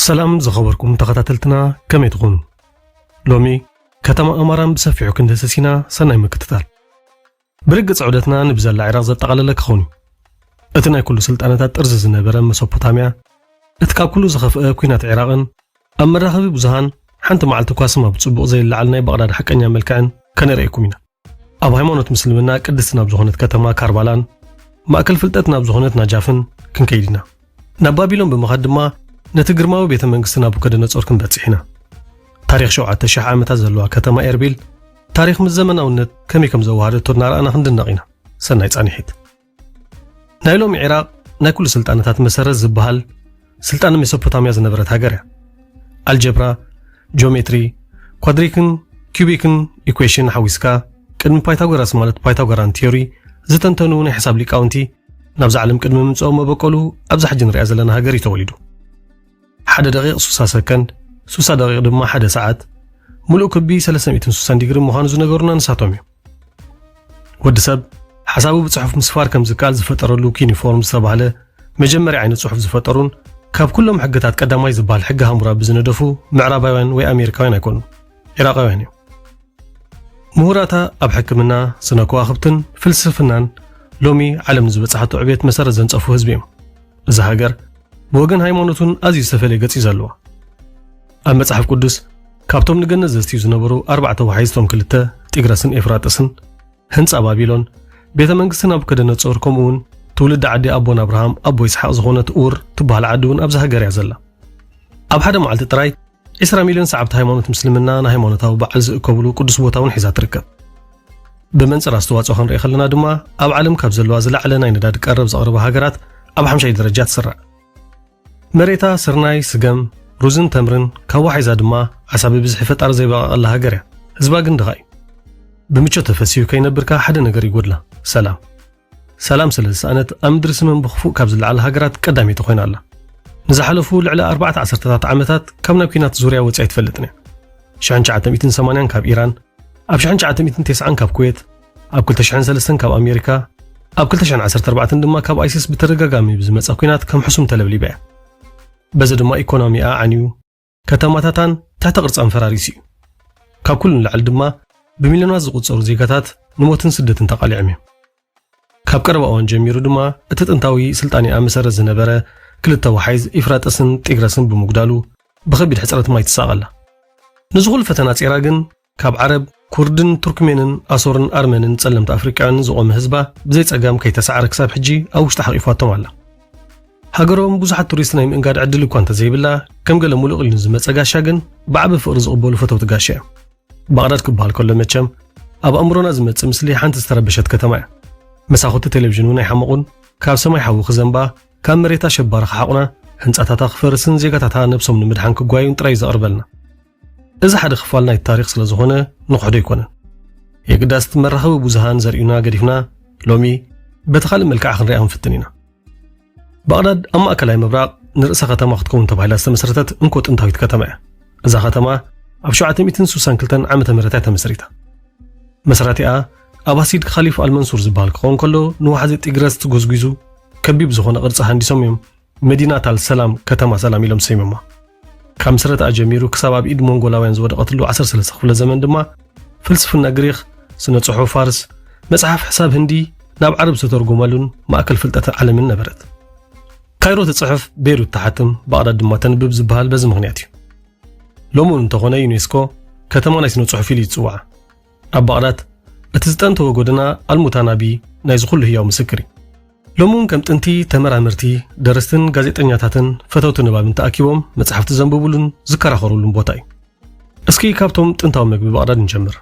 ሰላም ዝኸበርኩም ተኸታተልትና ከመይ ትኾኑ? ሎሚ ከተማ ኣማራን ብሰፊሑ ክንድህስስ ኢና። ሰናይ ምክትታል። ብርግጽ ዑደትና ንብዘላ ዒራቕ ዘጠቓለለ ክኸውን እዩ። እቲ ናይ ኩሉ ስልጣነታት ጥርዚ ዝነበረ መሶፖታምያ፣ እቲ ካብ ኩሉ ዝኸፍአ ኩናት ዒራቕን ኣብ መራኸቢ ብዙሃን ሓንቲ መዓልቲ እኳ ስማ ብጽቡቕ ዘይለዓል ናይ ባቕዳድ ሓቀኛ መልክዕን ከነርእየኩም ኢና። ኣብ ሃይማኖት ምስልምና ቅድስቲ ናብ ዝኾነት ከተማ ካርባላን ማእከል ፍልጠት ናብ ዝኾነት ናጃፍን ክንከይድ ኢና። ናብ ባቢሎን ብምኻድ ድማ ነቲ ግርማዊ ቤተ መንግስቲ ናቡከደነጾር ክንበጽሕ ኢና። ታሪኽ ሸውዓተ ሽሕ ዓመታት ዘለዋ ከተማ ኤርቢል ታሪኽ ምስ ዘመናውነት ከመይ ከም ዘወሃደቶ እናረኣና ክንድነቕ ኢና። ሰናይ ጻንሒት። ናይ ሎሚ ዒራቕ ናይ ኩሉ ስልጣነታት መሰረት ዝበሃል ስልጣነ ሜሶፖታምያ ዝነበረት ሃገር እያ። ኣልጀብራ፣ ጂኦሜትሪ፣ ኳድሪክን ኪዩቢክን ኢኩዌሽን ሓዊስካ ቅድሚ ፓይታጎራስ ማለት ፓይታጎራን ቲዮሪ ዝተንተኑ ናይ ሕሳብ ሊቃውንቲ ናብዛ ዓለም ቅድሚ ምምፅኦም መበቀሉ ኣብዚ ሕጂ ንሪኣ ዘለና ሃገር እዩ ተወሊዱ ሓደ ደቂቕ ሱሳ ሰከንድ ሱሳ ደቂቕ ድማ ሓደ ሰዓት ሙሉእ ክቢ 360 ዲግሪ ምዃኑ ዝነገሩና ንሳቶም እዮም ወዲ ሰብ ሓሳቡ ብጽሑፍ ምስፋር ከም ዝከኣል ዝፈጠረሉ ኪኒፎርም ዝተባህለ መጀመርያ ዓይነት ጽሑፍ ዝፈጠሩን ካብ ኩሎም ሕግታት ቀዳማይ ዝበሃል ሕጊ ሃሙራቢ ዝነደፉ ምዕራባውያን ወይ ኣሜሪካውያን ኣይኮኑ ዒራቃውያን እዮም ምሁራታ ኣብ ሕክምና ስነ ከዋኽብትን ፍልስፍናን ሎሚ ዓለም ዝበጽሓቶ ዕቤት መሰረት ዘንጸፉ ህዝቢ እዮም እዛ ሃገር ብወገን ሃይማኖቱን ኣዝዩ ዝተፈለየ ገጽ እዩ ዘለዋ ኣብ መጽሓፍ ቅዱስ ካብቶም ንገነት ዘስትዩ ዝነበሩ ኣርባዕተ ወሓይዝቶም ክልተ ጢግረስን ኤፍራጥስን፣ ህንጻ ባቢሎን፣ ቤተ መንግስቲ ናቡከደነጾር ከምኡውን ትውልዲ ዓዲ ኣቦን ኣብርሃም ኣቦ ይስሓቅ ዝኾነት ኡር ትበሃል ዓዲ እውን ኣብዛ ሃገር እያ ዘላ። ኣብ ሓደ መዓልቲ ጥራይ ዒስራ ሚልዮን ሰዓብቲ ሃይማኖት ምስልምና ንሃይማኖታዊ በዓል ዝእከብሉ ቅዱስ ቦታ እውን ሒዛ ትርከብ ብመንፅር ኣስተዋፅኦ ክንርኢ ከለና ድማ ኣብ ዓለም ካብ ዘለዋ ዝለዓለ ናይ ነዳዲ ቀረብ ዘቕርባ ሃገራት ኣብ ሓምሻይ ደረጃ ትስራዕ መሬታ ስርናይ፣ ስገም፣ ሩዝን ተምርን ካብ ዋሒዛ ድማ ዓሳ ብብዝሒ ፈጣሪ ዘይበቐቐላ ሃገር እያ። ህዝባ ግን ድኻ እዩ። ብምቾት ተፈሲሁ ከይነብር ከኣ ሓደ ነገር ይጎድላ፣ ሰላም። ሰላም ስለ ዝሰኣነት ኣብ ምድሪ ስመን ብኽፉእ ካብ ዝለዓላ ሃገራት ቀዳመይቲ ኮይና ኣላ። ንዝሓለፉ ልዕሊ ኣርባዕተ ዓሰርተታት ዓመታት ካብ ናይ ኲናት ዙርያ ወጺኣ ኣይትፈልጥን እያ። ሽሕን ትሽዓተ ሚእትን ሰማንያን ካብ ኢራን፣ ኣብ ሽሕን ትሽዓተ ሚእትን ቴስዓን ካብ ኩዌት፣ ኣብ ክልተ ሽሕን ሰለስተን ካብ ኣሜሪካ፣ ኣብ ክልተ ሽሕን ዓሰርተ ኣርባዕተን ድማ ካብ ኣይሲስ ብተደጋጋሚ ብዝመጸ ኲናት ከም ሕሱም ተለብሊባ እያ። በዚ ድማ ኢኮኖሚኣ ዓንዩ፣ ከተማታታን ትሕተ ቅርጻን ፈራሪሱ እዩ። ካብ ኩሉ ንላዕሊ ድማ ብሚልዮናት ዝቑጸሩ ዜጋታት ንሞትን ስደትን ተቓሊዖም እዮም። ካብ ቀረባ እዋን ጀሚሩ ድማ እቲ ጥንታዊ ስልጣኔኣ መሰረት ዝነበረ ክልተ ወሓይዝ ኢፍራጠስን ጢግረስን ብምጉዳሉ ብኸቢድ ሕጽረት ማይ ትሳቐ ኣላ። ነዚ ኹሉ ፈተና ጼራ ግን ካብ ዓረብ፣ ኩርድን ቱርክሜንን ኣሶርን ኣርመንን ጸለምቲ ኣፍሪቃውያንን ዝቖመ ህዝባ ብዘይ ጸጋም ከይተሳዕረ ክሳብ ሕጂ ኣብ ውሽጣ ሓቂፋቶም ኣላ። ሃገሮም ብዙሓት ቱሪስት ናይ ምእንጋድ ዕድል እኳ እንተዘይብላ ከም ገለ ሙሉእ ቂሊኑ ዝመጸ ጋሻ ግን ብዓቢ ፍቕሪ ዝቕበሉ ፈተውቲ ጋሻ እዮም። ባቕዳድ ክበሃል ከሎ መቸም ኣብ ኣእምሮና ዝመጽእ ምስሊ ሓንቲ ዝተረበሸት ከተማ እያ። መሳኹቲ ቴሌቭዥን እውን ኣይሓመቑን፣ ካብ ሰማይ ሓዊ ክዘንባ፣ ካብ መሬታ ሸባሪ ክሓቑና፣ ህንጻታታ ክፈርስን ዜጋታታ ነብሶም ንምድሓን ክጓዩን ጥራይ እዩ ዘቕርበልና። እዚ ሓደ ክፋል ናይቲ ታሪኽ ስለ ዝኾነ ንኽሕዶ ኣይኮነን። የግዳስ እቲ መራኸቢ ብዙሃን ዘርእዩና ገዲፍና ሎሚ በቲ ካልእ መልክዓ ክንሪኣ ክንፍትን ኢና። ባቕዳድ ኣብ ማእከላይ ምብራቕ ንርእሰ ከተማ ክትከውን ተባሂላ ዝተመስረተት እንኮ ጥንታዊት ከተማ እያ። እዛ ከተማ ኣብ 762 ዓመተ ምህረት እያ ተመስሪታ። መስራቲኣ ኣባሲድ ካሊፍ ኣልመንሱር ዝበሃል ክኸውን ከሎ ንዋሕዚ ጢግረስ ጎዝጒዙ ከቢብ ዝኾነ ቅርጺ ሃንዲሶም እዮም መዲናት ኣል ሰላም፣ ከተማ ሰላም ኢሎም ሰይሞማ። ካብ ምስረትኣ ጀሚሩ ክሳብ ኣብ ኢድ ሞንጎላውያን ዝወደቐትሉ ዓሰርተ ሰለስተ ክፍለ ዘመን ድማ ፍልስፍና ግሪኽ፣ ስነ ጽሑፍ ፋርስ፣ መጽሓፍ ሕሳብ ህንዲ ናብ ዓረብ ዝተተርጎመሉን ማእከል ፍልጠተ ዓለምን ነበረት። ካይሮ ትጽሕፍ፣ ቤይሩት ትሓትም፣ ባቕዳድ ድማ ተንብብ ዝበሃል በዚ ምኽንያት እዩ። ሎሚ እውን እንተኾነ ዩኔስኮ ከተማ ናይ ስነ ጽሑፍ ኢሉ እዩ ዝጽውዓ። ኣብ ባቕዳድ እቲ ዝጠንተወ ጎደና ኣልሙታናቢ ናይዚ ኩሉ ህያው ምስክር እዩ። ሎሚ እውን ከም ጥንቲ ተመራመርቲ፣ ደረስትን ጋዜጠኛታትን ፈተውቲ ንባብን ተኣኪቦም መጻሕፍቲ ዘንብቡሉን ዝከራኸሩሉን ቦታ እዩ። እስኪ ካብቶም ጥንታዊ መግቢ ባቕዳድ ንጀምር።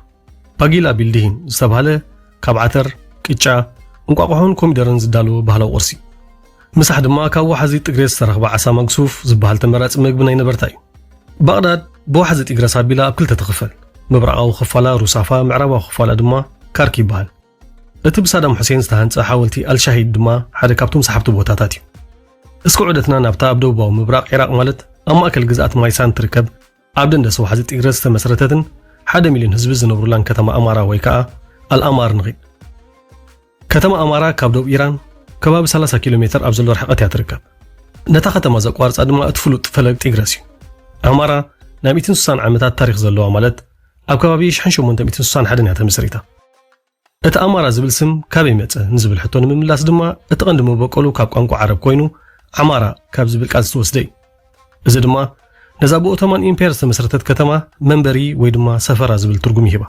ባጊላ ቢልድሂን ዝተብሃለ ካብ ዓተር፣ ቅጫ፣ እንቋቑሖን ኮሚደረን ዝዳሎ ባህላዊ ቁርሲ። ምሳሕ ድማ ካብ ዋሓዚ ጥግሬ ዝተረኽበ ዓሳ መግሱፍ ዝበሃል ተመራጺ መግቢ ናይ ነበርታ እዩ። ባቕዳድ ብዋሕዚ ጢግረስ ኣቢላ ኣብ ክልተ ትኽፈል። ምብራቓዊ ክፋላ ሩሳፋ፣ ምዕራባዊ ክፋላ ድማ ካርክ ይበሃል። እቲ ብሳዳም ሑሴን ዝተሃንጸ ሓወልቲ ኣልሻሂድ ድማ ሓደ ካብቶም ሰሓብቲ ቦታታት እዩ። እስከ ዑደትና ናብታ ኣብ ደቡባዊ ምብራቕ ዒራቕ ማለት ኣብ ማእከል ግዝኣት ማይሳን ትርከብ ኣብ ደንደስ ዋሕዚ ጢግረስ ዝተመስረተትን ሓደ ሚልዮን ህዝቢ ዝነብሩላን ከተማ ኣማራ ወይ ከኣ ኣልኣማር ንኺድ። ከተማ ኣማራ ካብ ዶብ ኢራን ከባቢ 30 ኪሎ ሜተር ኣብ ዘሎ ርሕቐት እያ ትርከብ። ነታ ከተማ ዘቋርጻ ድማ እቲ ፍሉጥ ፈለግ ጢግረስ እዩ። ኣማራ ናይ ሚእትን ስሳን ዓመታት ታሪኽ ዘለዋ ማለት ኣብ ከባቢ ሽሕን ሸሞንተ ሚእትን ስሳን ሓደን እያ ተመስሪታ። እቲ ኣማራ ዝብል ስም ካበይ መጸ ንዝብል ሕቶ ንምምላስ ድማ እቲ ቀንዲ መበቆሉ ካብ ቋንቋ ዓረብ ኮይኑ ዓማራ ካብ ዝብል ቃል ዝተወስደ እዩ። እዚ ድማ ነዛ ብኦቶማን ኢምፓየር ዝተመስረተት ከተማ መንበሪ ወይ ድማ ሰፈራ ዝብል ትርጉም ይህባ።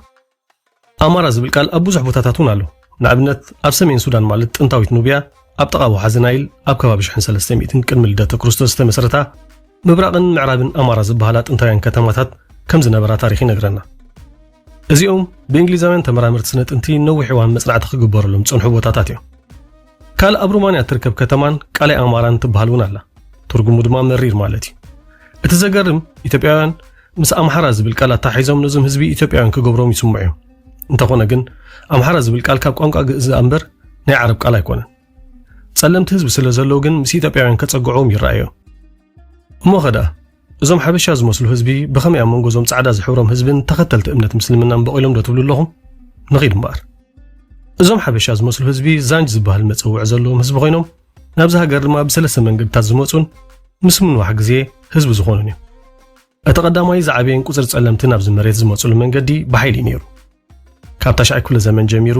ኣማራ ዝብል ቃል ኣብ ብዙሕ ቦታታት እውን ኣሎ። ንኣብነት ኣብ ሰሜን ሱዳን ማለት ጥንታዊት ኑብያ ኣብ ጥቓ ወሓዚ ናይል ኣብ ከባቢ ሽሕን ሰለስተ ሚእትን ቅድሚ ልደተ ክርስቶስ ዝተመስረታ ምብራቕን ምዕራብን ኣማራ ዝበሃላ ጥንታውያን ከተማታት ከም ዝነበራ ታሪኽ ይነግረና። እዚኦም ብእንግሊዛውያን ተመራመርቲ ስነ ጥንቲ ነዊሕ እዋን መጽናዕቲ ክግበረሎም ዝጸንሑ ቦታታት እዮም። ካልእ ኣብ ሩማንያ እትርከብ ከተማን ቃላይ ኣማራን ትበሃል እውን ኣላ። ትርጉሙ ድማ መሪር ማለት እዩ። እቲ ዘገርም ኢትዮጵያውያን ምስ ኣምሓራ ዝብል ቃል ኣተሓሒዞም ነዞም ህዝቢ ኢትዮጵያውያን ክገብሮም ይስምዑ እዮም። እንተኾነ ግን ኣምሓራ ዝብል ቃል ካብ ቋንቋ ግእዝ እምበር ናይ ዓረብ ቃል ኣይኮነን። ጸለምቲ ህዝቢ ስለ ዘለዉ ግን ምስ ኢትዮጵያውያን ከጸግዑዎም ይረኣዮም። እሞ ኸደኣ እዞም ሓበሻ ዝመስሉ ህዝቢ ብኸመይ ኣብ መንጎ እዞም ጻዕዳ ዝሕብሮም ህዝብን ተኸተልቲ እምነት ምስልምናን በቒሎም ዶ ትብሉ ኣለኹም? ንኺድ እምበኣር። እዞም ሓበሻ ዝመስሉ ህዝቢ ዛንጅ ዝበሃል መጸውዒ ዘለዎም ህዝቢ ኮይኖም ናብዚ ሃገር ድማ ብሰለስተ መንገድታት ዝመጹን ምስ ምንዋሕ ግዜ ህዝቢ ዝኾኑን እዮም። እቲ ቀዳማይ ዝዓበየን ቁጽሪ ጸለምትን ኣብዚ መሬት ዝመጹሉ መንገዲ ብሓይሊ እዩ ነይሩ። ካብ ታሽዓይ ክፍለ ዘመን ጀሚሩ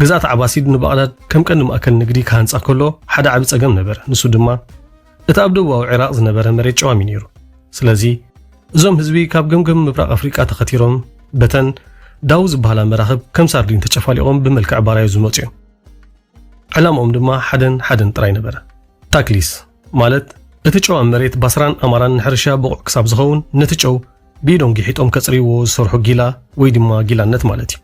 ግዝኣት ዓባሲድ ንባቕዳድ ከም ቀንዲ ማእከል ንግዲ ክሃንጻ ከሎ ሓደ ዓቢ ጸገም ነበረ። ንሱ ድማ እቲ ኣብ ደቡባዊ ዒራቕ ዝነበረ መሬት ጨዋም እዩ ነይሩ። ስለዚ እዞም ህዝቢ ካብ ገምገም ምብራቕ ኣፍሪቃ ተኸቲሮም በተን ዳው ዝበሃላ መራኽብ ከም ሳርዲን ተጨፋሊቖም ብመልክዕ ባራዩ ዝመጹ እዮም ዕላምኦም ድማ ሓደን ሓደን ጥራይ ነበረ ታክሊስ ማለት እቲ ጨው ኣብ መሬት ባስራን ኣማራን ንሕርሻ ብቑዕ ክሳብ ዝኸውን ነቲ ጨው ብኢዶም ጊሒጦም ከጽርይዎ ዝሰርሑ ጊላ ወይ ድማ ጊላነት ማለት እዩ።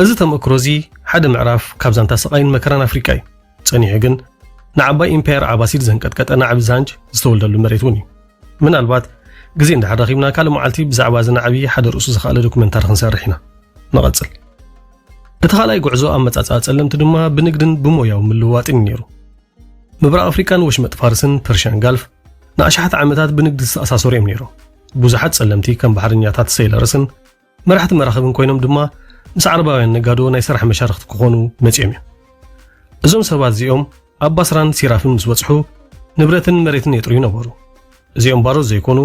እዚ ተመክሮ እዚ ሓደ ምዕራፍ ካብ ዛንታ ስቓይን መከራን ኣፍሪቃ እዩ። ጸኒሑ ግን ንዓባይ ኢምፓየር ዓባሲድ ዘንቀጥቀጠ ናዕቢ ዛንጅ ዝተወልደሉ መሬት እውን እዩ። ምናልባት ግዜ እንድሕር ረኺብና ካልእ መዓልቲ ብዛዕባ እዚ ናዕቢ ሓደ ርእሱ ዝኸኣለ ዶኩመንታሪ ክንሰርሕ ኢና። ንቐጽል። እቲ ካልኣይ ጉዕዞ ኣመጻጽኣ ጸለምቲ ድማ ብንግድን ብሞያዊ ምልውዋጥን እዩ ነይሩ። ምብራቕ ኣፍሪቃን ወሽመጥ ፋርስን ፐርሽያን ጋልፍ ንኣሽሓት ዓመታት ብንግዲ ዝተኣሳሰሩ እዮም ነይሮም። ብዙሓት ጸለምቲ ከም ባሕረኛታት ሰይለርስን መራሕቲ መራኽብን ኮይኖም ድማ ምስ ዓረባውያን ነጋዶ ናይ ስራሕ መሻርኽቲ ክኾኑ መጺኦም እዮም። እዞም ሰባት እዚኦም ኣብ ባስራን ሲራፍን ምስ በጽሑ ንብረትን መሬትን የጥርዩ ነበሩ እዚኦም ባሮት ዘይኮኑ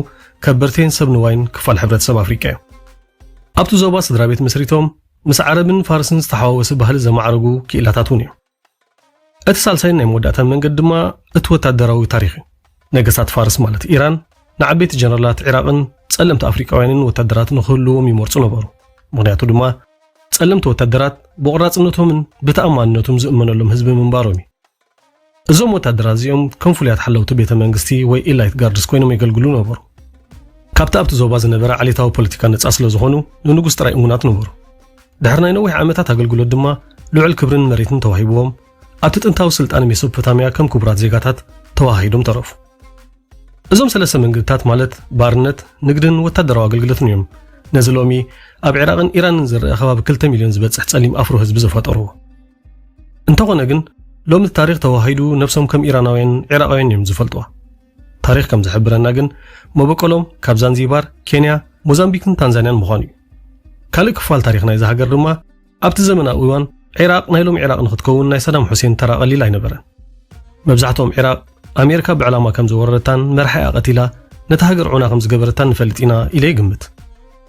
ከበርቴን ሰብ ንዋይን ክፋል ሕብረተሰብ ኣፍሪቃ እዮም ኣብቲ ዞባ ስድራ ቤት መስሪቶም ምስ ዓረብን ፋርስን ዝተሓዋወሰ ባህሊ ዘማዕረጉ ክኢላታት እውን እዮም እቲ ሳልሳይን ናይ መወዳእታን መንገዲ ድማ እቲ ወታደራዊ ታሪኽ እዩ። ነገስታት ፋርስ ማለት ኢራን ንዓበይቲ ጀነራላት ዒራቕን ጸለምቲ ኣፍሪቃውያንን ወታደራት ንኽህልዎም ይመርጹ ነበሩ። ምኽንያቱ ድማ ጸለምቲ ወታደራት ብቑራጽነቶምን ብተኣማንነቱም ዝእመነሎም ህዝቢ ምንባሮም እዩ። እዞም ወታደራት እዚኦም ከም ፍሉያት ሓለውቲ ቤተ መንግስቲ ወይ ኢላይት ጋርድስ ኮይኖም የገልግሉ ነበሩ። ካብቲ ኣብቲ ዞባ ዝነበረ ዓሌታዊ ፖለቲካ ነጻ ስለ ዝኾኑ ንንጉስ ጥራይ እሙናት ነበሩ። ድሕሪ ናይ ነዊሕ ዓመታት ኣገልግሎት ድማ ልዑል ክብርን መሬትን ተዋሂብዎም ኣብቲ ጥንታዊ ስልጣነ ሜሶፖታምያ ከም ክቡራት ዜጋታት ተዋሃሂዶም ተረፉ። እዞም ሰለስተ መንገድታት ማለት ባርነት፣ ንግድን ወታደራዊ ኣገልግሎትን እዮም ነዚ ሎሚ ኣብ ዒራቕን ኢራንን ዝረአ ከባቢ 2 ሚልዮን ዝበጽሕ ጸሊም ኣፍሮ ህዝቢ ዘፈጠርዎ። እንተኾነ ግን ሎሚ ታሪኽ ተዋሂዱ ነብሶም ከም ኢራናውያን ዒራቓውያን እዮም ዝፈልጥዋ። ታሪኽ ከም ዝሕብረና ግን መበቆሎም ካብ ዛንዚባር፣ ኬንያ፣ ሞዛምቢክን ታንዛንያን ምዃኑ እዩ። ካልእ ክፋል ታሪኽ ናይዛ ሃገር ድማ ኣብቲ ዘመናዊ እዋን ዒራቕ ናይ ሎሚ ዒራቕ ንኽትከውን ናይ ሳዳም ሑሴን ተራ ቀሊል ኣይነበረን። መብዛሕትኦም ዒራቕ ኣሜሪካ ብዕላማ ከም ዝወረረታን መራሒኣ ቀቲላ ነታ ሃገር ዑና ከም ዝገበረታን ንፈልጥ ኢና ኢለ ይግምት።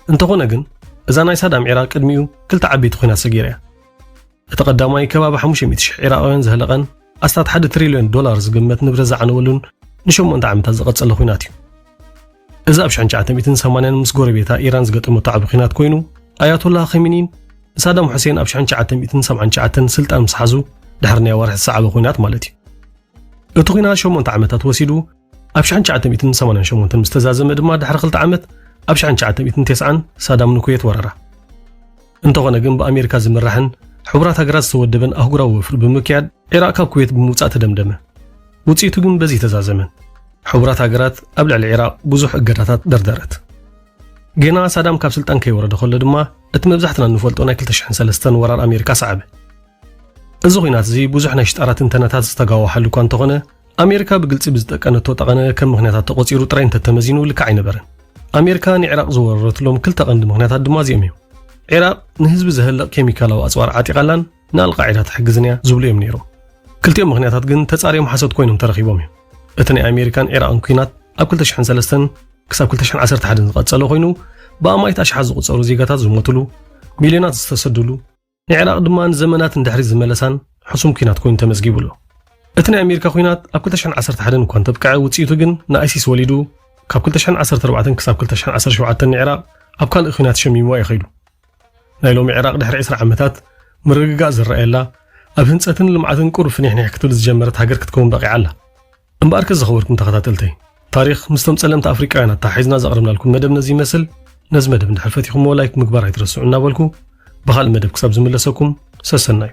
እንተኾነ ግን እዛ ናይ ሳዳም ዒራቕ ቅድሚኡ ክልተ ዓበይቲ ኲናት ሰጊራ እያ። እቲ ቀዳማይ ከባቢ ሓሙሽተ ሚእቲ ሽሕ ዒራቓውያን ዘህለቐን ኣስታት ሓደ ትሪልዮን ዶላር ዝግመት ንብረት ዝዓነወሉን ንሸሞንተ ዓመታት ዝቐጸለ ኲናት እዩ። እዚ ኣብ ሽሕን ትሽዓተ ሚእትን ሰማንያን ምስ ጎረቤታ ኢራን ዝገጠመቶ ዓቢ ኲናት ኮይኑ ኣያቶላ ኸሚኒን ንሳዳም ሑሴን ኣብ ሽሕን ትሽዓተ ሚእትን ሰብዓን ትሽዓተን ስልጣን ምስ ሓዙ ድሕሪ ናይ ኣዋርሕ ዝሰዓበ ኲናት ማለት እዩ። እቲ ኲናት ሸሞንተ ዓመታት ወሲዱ ኣብ ሽሕን ትሽዓተ ሚእትን ሰማንያን ሸሞንተን ምስ ተዛዘመ ድማ ድሕሪ ክልተ ዓመት ኣብ ሽሕን ትሽዓተ ሚእትን ቴስዓን ሳዳም ንኩዌት ወረራ። እንተኾነ ግን ብኣሜሪካ ዝምራሕን ሕቡራት ሃገራት ዝተወደበን ኣህጉራዊ ወፍሪ ብምክያድ ዒራቕ ካብ ኩዌት ብምውጻእ ተደምደመ። ውጽኢቱ ግን በዚ ተዛዘመን። ሕቡራት ሃገራት ኣብ ልዕሊ ዒራቕ ብዙሕ እገዳታት ደርደረት። ጌና ሳዳም ካብ ስልጣን ከይወረደ ከሎ ድማ እቲ መብዛሕትና እንፈልጦ ናይ ክልተ ሽሕን ሰለስተን ወራር ኣሜሪካ ሰዓበ። እዚ ኹናት እዚ ብዙሕ ናይ ሽጣራ ትንተናታት ዝተጋወሓሉ እኳ እንተኾነ፣ ኣሜሪካ ብግልጺ ብዝጠቀነቶ ጠቐነ ከም ምኽንያታት ተቖጺሩ ጥራይ እንተተመዚኑ ልክዕ ኣይነበረን። ኣሜሪካ ንዒራቕ ዝወረረትሎም ክልተ ቀንዲ ምኽንያታት ድማ እዚኦም እዮም። ዒራቕ ንህዝቢ ዘህልቕ ኬሚካላዊ ኣጽዋር ዓጢቓላን ንኣልቓዒዳ ትሕግዝን እያ ዝብሉ እዮም ነይሮም። ክልቲኦም ምኽንያታት ግን ተጻርዮም ሓሶት ኮይኖም ተረኺቦም እዮም። እቲ ናይ ኣሜሪካን ዒራቕን ኲናት ኣብ 2003 ክሳብ 2011 ዝቐጸለ ኮይኑ ብኣማኢት ኣሽሓት ዝቑጸሩ ዜጋታት ዝሞትሉ፣ ሚልዮናት ዝተሰድሉ፣ ንዕራቕ ድማ ንዘመናት ንድሕሪት ዝመለሳን ሕሱም ኲናት ኮይኑ ተመዝጊቡ ኣሎ። እቲ ናይ ኣሜሪካ ኲናት ኣብ 2011 እኳ እንተብቅዐ ውጽኢቱ ግን ንኣይሲስ ወሊዱ ካብ 2014 ክሳብ 2017 ንዕራቕ ኣብ ካልእ ኲናት ሸሚምዋ እዩ ከይዱ። ናይ ሎሚ ዕራቕ ድሕሪ 20 ዓመታት ምርግጋእ ዝረኣየላ ኣብ ህንጸትን ልምዓትን ቁሩብ ፍኒሕኒሕ ክትብል ዝጀመረት ሃገር ክትከውን በቒዓ ኣላ። እምበኣርከስ ዝኸበርኩም ተኸታተልተይ ታሪኽ ምስቶም ጸለምቲ ኣፍሪቃውያን ኣተሓሒዝና ዘቕረብናልኩም መደብ ነዚ ይመስል ነዚ መደብ እንድሕር ፈቲኹምዎ ላይክ ምግባር ኣይትረስዑ እናበልኩ ብኻልእ መደብ ክሳብ ዝምለሰኩም ሰሰናዩ